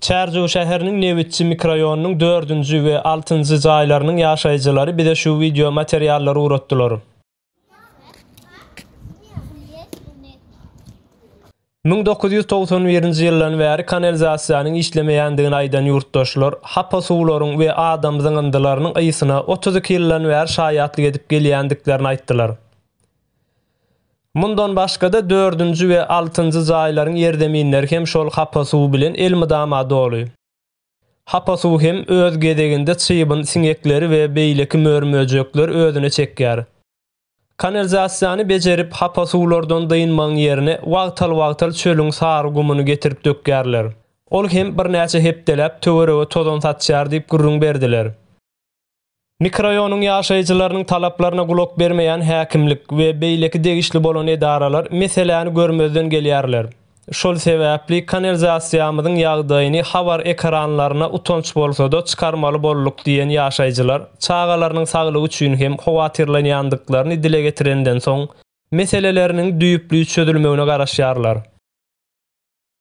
Çärjew şäheriniň Nebitçi mikroýonynyň dördünji we altynjy jaýlarynyň ýaşaýjylary bize şu wideo materiallary ugratdylar. Müň dokuz ýüz togsan birinji ýyldan bäri kanalizasiýanyň işlemeýändigini aýdan ýurtdaşlar, hapa suwlaryň we adam zyňyndylarynyň ysyna otuz iki ýyldan bäri şaýatlyk edip gelýändiklerini aýtdylar. Mundan başga-da dördünji we altynjy jaýlaryň ýerzeminleri hem şol hapa suw bilen elmydama doly. Hapa suw hem öz gezeginde çybyn siňekleri we beýleki mör-möjekleri özüne çekýär. Kanalizasiýany bejerip, hapa suwlardan dynmagyň ýerine wagtal-wagtal çölüň sary gumuny getirip dökýärler. Ol hem birnäçe hepdeläp töwerege tozan saçýar diýip gürrüň berdiler. Mikroraýonyň ýaşaýjylarynyň talaplaryna gulak bermeýän häkimlik we beýleki degişli bolan edaralar meseläni görmezden gelýärler. Şol sebäpli kanalizasiýamyzyň ýagdaýyny habar ekranlaryna utanç bolsa-da çykarmaly bolduk diýen ýaşaýjylar çagalarynyň saglygy üçin hem howatyrlanýandyklaryny dile getirenden soň meseleleriniň düýpli çözülmegine garaşýarlar.